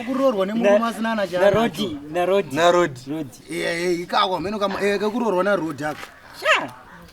kuroorwa nemurume asina na charoti narodi narodi ikako hameno kama eh, kakuroorwa narodi aka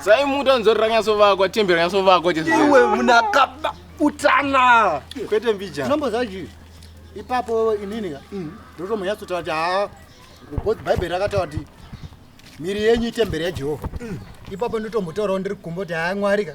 sai muti anzori ranyasovakwa tembi ranyasovakwa iwe munakaba utana kwete mbija nombo zaji ipapo inini ka mm. ndotomanyatsotaura kuti haa because bhaibheri rakataura kuti miri yenyu itemberi yajehovha mm. ipapo ndotombotaurawo ndiri kumbo kuti haa mwari ka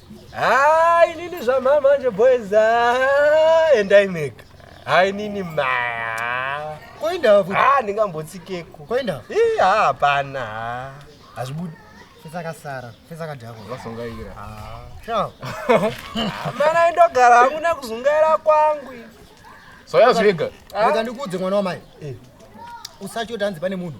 Haa inini zvamhaa manje boys haa endai mega. Haa inini maa. Koinda futi. Haa ndingambotsikeko. Koinda. Ii haa hapana haa. Hazvibudi. Fesa kasara. Fesa kadhako. Vasongaira. Haa. Chao. Mana indogara hangu nekuzungaira kwangu. Soya zvega. Rega ndikuudze mwana wamai. Eh. Usatyo tanzi pane munhu.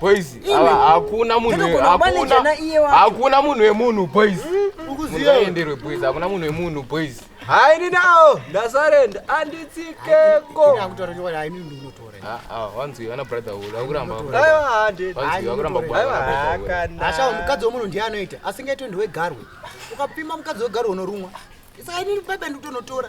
Boys, hakuna munhu hakuna hakuna munhu wemunhu boys. Ukuziya enderwe boys, hakuna munhu wemunhu boys. Hayi ni nawo ndasarenda anditsikeko. Akutorekewa hayi ni ndinotora. Ah ah, wanzi ana brother ulo akuramba. Hayi hande. Wanzi akuramba bwana. Asha mukadzi womunhu ndiye anoita, asingaitwe ndiwe garwe. Ukapima mukadzi wegarwe unorumwa. Saka ini baba ndikutonotora.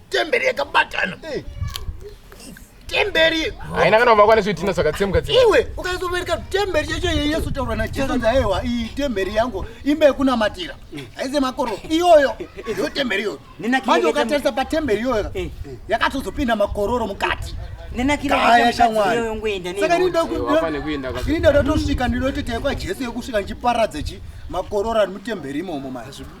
temberi yakabatana eh. temberi haina kana vava kwane zvitina zvakatsemka tsemka iwe ukaizovereka temberi yacho yeyesu taura najesu ndaiwa iyi temberi yangu imba yekunamatira eh. haize makoro iyoyo yo temberi iyoyo manje ukatarisa patemberi iyoyo eh. yakatozopinda makororo mukati nenakiraya shamwarisaka ndinida ndatosvika ndinoti taikwa jesu yekusvika ndichiparadza chi makororo ari mutemberi imomo mazvibuda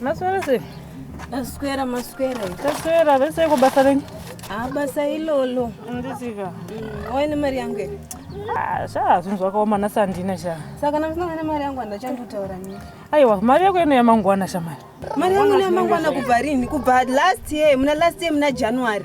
Maswera sei? Taswera maswera. Taswera vese iko basa renyu? Ah basa ilolo. Ndisika. Mm, Waine mari yangu here? Ah, sha zvinhu zvakaoma nhasi handina sha. Saka namusina ne mari yangu handachandotaura nini. Aiwa mari yako ino yamangwana shamai. Mari yangu ino yamangwana kubva rini? Kubva last year, muna last year muna January.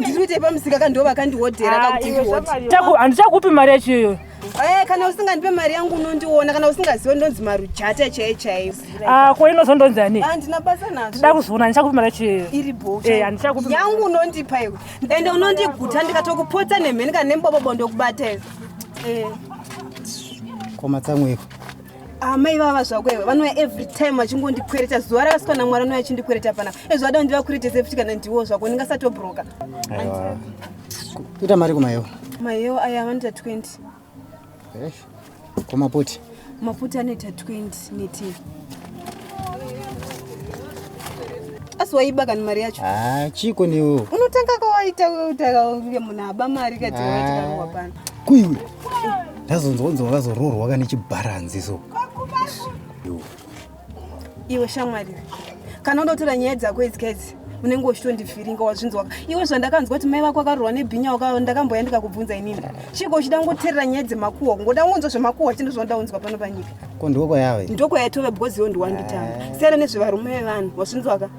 ndiri kuitei pamusika ka ndo vakandihodhera ah, kakuti handichakupi mari yacho iyoyo Eh, kana usingandipe mari yangu unondiona kana usingaziwe ndonzi marujata chaiye chaiyo ah, ko inozondonzi ani handina ah, basa nazvo ndida kuzoona handichakupi mari yacho iyoyo iri boyangu eh, unondipa iwe ende unondiguta ndikatokupotsa nemheni kana nembobobo ndokubata iwe eh. komatsamweko amai ah, vava zvako iwe vanouya every time vachingondikwereta zuva rakasika namwari anouya achindikwereta pana ezvada ndivakweretese futi kana ndiwo zvako ndingasatobroka kuita mari kumayewo mayewo aya vanoita 20 kumaputi maputi anoita 20 neti asi waiba kani mari yacho ah, chiko newo unotanga kawaita utakaunge munhu aba mari kati waitikawa ah. pana kuiwe ndazonzwa kunzi wakazoroorwa ka nechibharanzi so iwe shamwari kana unotora nyaya dzako idzi kaidzi unenge uchitondifiringa wazvinzwaka iwe zvandakanzwa kuti mai vako akarurwa nebhinya waka ndakamboya ndikakubvunza inini chiko uchida kungoterera nyaya dzemakuhwa kungoda kungonzwa zvemakuhwa chino zvanoda kunzwa pano panyika ko ndoko yave ndoko yaitove because iwe ndiwanditanga eh. siyana nezvevarume vevanhu wazvinzwaka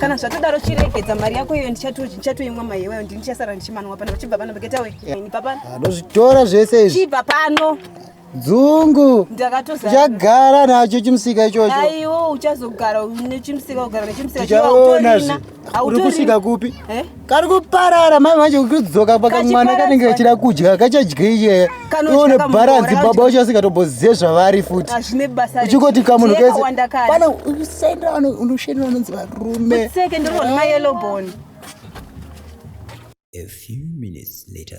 kana zvatodaro chiregedza mari yako iyo ndichatoimwa mai iwayo ndini ndichasara ndichimanwa pano chibva pano begetawe nibva pano anozvitora zvese izvi chibva pano dzungu ndakatochagara nacho chimusika ichocho aiwo uchazogara nechimusika kugara nechimusika chaona uri kusvika kupi eh? kari kuparara mai manje kudzoka paka mwana kanenge kachida kudya kachadyeie ione bharanzi baba wacho asingatobozive zvavari futi uchingoti kamunhu kese pana usaendera unoshendera vanonzi varume A few minutes later.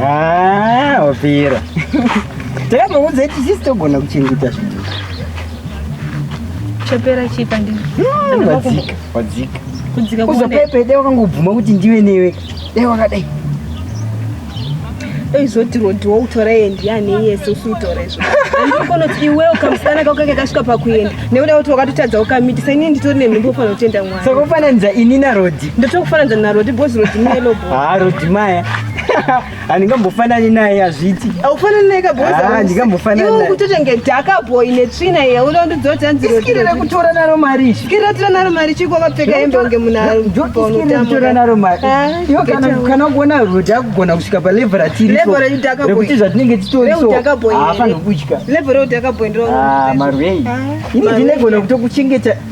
Ah, wapera. Takamuudza kuti sisi togona kuchengeta zvinhu. Chapera chipa ndini. Hmm, wadzika, wadzika. Kudzika kuone. Uzopepe dai wakangobvuma kuti ndiwe newe. Dai wakadai. Eizoti rodi woutora yendi yane yese usiutora izvo. Anokona kuti iwewe kamusana kako kakasvika pakuenda. Nekuda kuti wakatotadza ukamitisa ini nditori nenhumbu ufanira kutenda mwana. Saka ufananidza ini naRodi. Ndotokufananidza naRodi because Rodi melo bro. Ah, Rodi maya. handingambofanani naye hazviti aufanani naye kabohandingambofananiukutotenge dhaka boy netsvina ye unondidzodza nzirosikirira kutora naro mari sikirira tora naro mari chiko vakapfeka hembe unge munhuakutora naro mari ah, iwo kana kuona roti akugona kusvika palevel ratirikuti zvatinenge titorisoafanokudya level reudhaka boy ndiro ah, marwei ah, ini ndinegona kutokuchengeta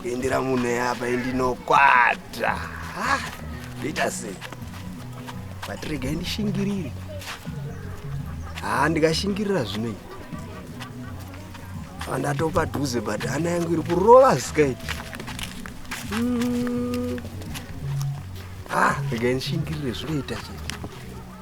kuindira munhu eapa indinokwata ndoita sei but regai ndishingirire haa ndikashingirira zvino iyi andatopa dhuze but hana yangu iri kurova sky hmm. ah regai ndishingirire zvinoita chete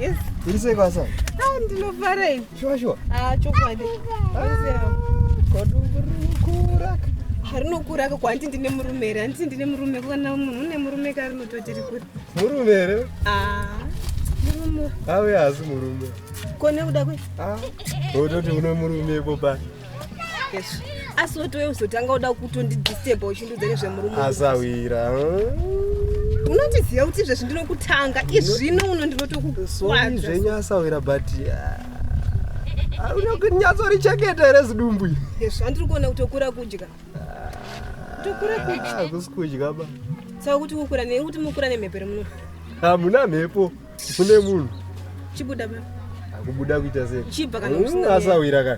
Yes. Iri sei kwasa? Ah, ndinofara ini. Sure sure. Ah, chokwadi. Ah, Kodungurukura. Harinokura ka kwanti ndine murume here handiti ndine murume kana munhu une murume ka rinototi rikuri murume here ah, murume ave haasi murume ko nekuda kwe ah, ototi une murume ipo pai asi wotowe uzotanga uda kutondidisturba uchindiudza nezvemurume asawira unotiziva kuti izvezvi ndinokutanga izvino uno ndinotokukwazvenyu asawira but ah, unokunyatsouricheketa here zidumbu izvi andiri kuona kuti okura kudya tokura kudya ah, kusi kudya ba saka kuti kukura nekuti mukura nemhepo remuno hamuna mhepo ah, kune munhu chibuda ma akubuda kuita sei chibva kana usina mm, asawira ka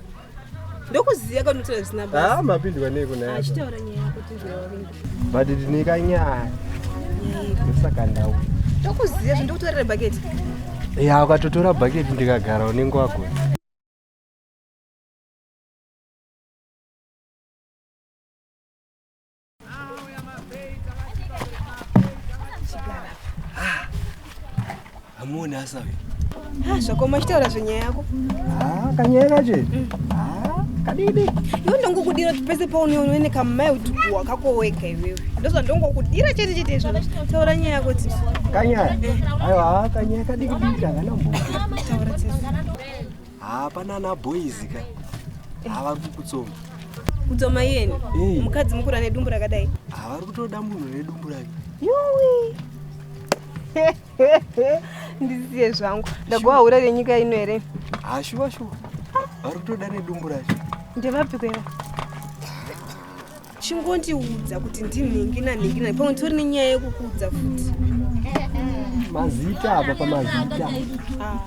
ndokuziya kana unotaura zvisina basa ah mapindwa nei kuna yako achitaura nyaya yako tinzwira wavinga but ndine ka nyaya ndosaka ndau ndokuziya zve ndokutorera bucket ya ukatotora bucket ndikagara unenge wagona hamuoni asa ah, zvako machitaura zvenyaya yako ah, kanyaya kacho mm. ah, kadidi iwe ndongokudira kuti pese paunoone nekamai kuti kuwa kakoweka iwewe ndozva ndongokudira chete chete izvo taura nyaya yako tisi kanyaya eh. aiwa kanyaya kadikidiki hakanambo taura tisi haa pana ana boys ka haa vari kukutsoma kudzoma iyeni Hey. mukadzi mukura nedumbu rakadai haa vari kutoda munhu nedumbu rake yuwi ndisiye zvangu ndagowa hura renyika ino here haa shuwa shuwa vari kutoda nedumbu racho ndevapiko iva chingondiudza kuti ndinhingina nhingina pamwe tori nenyaya yekukuudza futi mazita apa pamazita ah.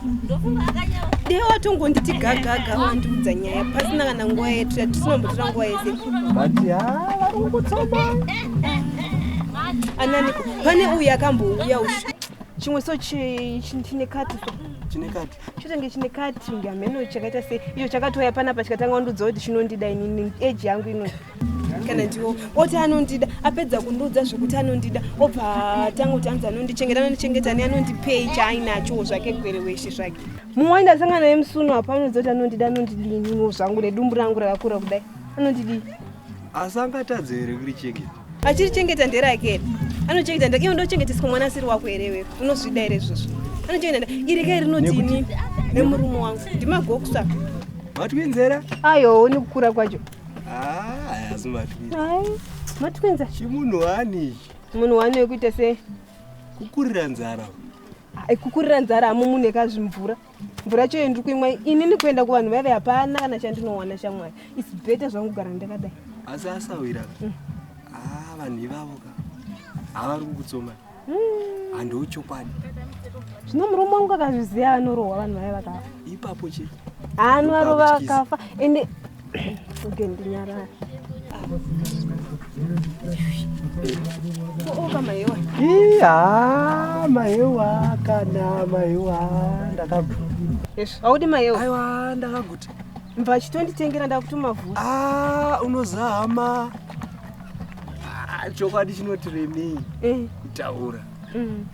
dee watongonditi gagaga wandiudza nyaya pasina kana nguva yetu yatisinambotora nguva yese but ha ah, vari kungotsoma ananiko pane uyu akambouya ushu chimwe so chine kati so chine kati chotange chine cutting hameno chakaita sei icho chakatouya panapa chikatanga kundiudza kuti chinondida inini age yangu inoi kana ndiwo oti anondida apedza kundiudza zvekuti anondida obva atanga kuti anzi anondichengeta anondichengeta ne anondipei chaainachowo zvake gwere weshe zvake mumwe waenda asangana naye musuno apa anondiudza kuti anondida anondidii ininiwo zvangu nedumbu rangu rakakura kudai anondidii asi angatadze here kurichengeta achirichengeta nderake here anochengeta nderake iwe ndochengeteswa mwana asiri wako here iwewe unozvida here izvozvo anochengeta nderake iri kai rinotini nemurume wangu ndimagokusa matwinzera ayo ni kukura kwacho hazi ah, matwinza matwinza chimunhu wani ichi munhu wani wekuita sei kukurira nzara ah, kukurira nzara hamumunhu ekazvimvura mvura yacho yendiri kuimwa inini kuenda kuvanhu vaive hapana kana chandinowana shamwari is better zvangu kugara ndakadai asi asawira ka mm. ah, vanhu ivavo ka havari kukutsoma mm. handiwo chokwadi zvino murume wangu akazviziva anorohwa vanhu vaive vakafa ipapo chete anovarova akafa ende Iya, maewa kana maewa ndakaguta. Yes, audi maewa. Aiwa ndakaguta. Mva chitonditengera ndakutuma vhu. Ah, unozama. Ah, chokwadi chinoti remei. Eh. Taura. Mm.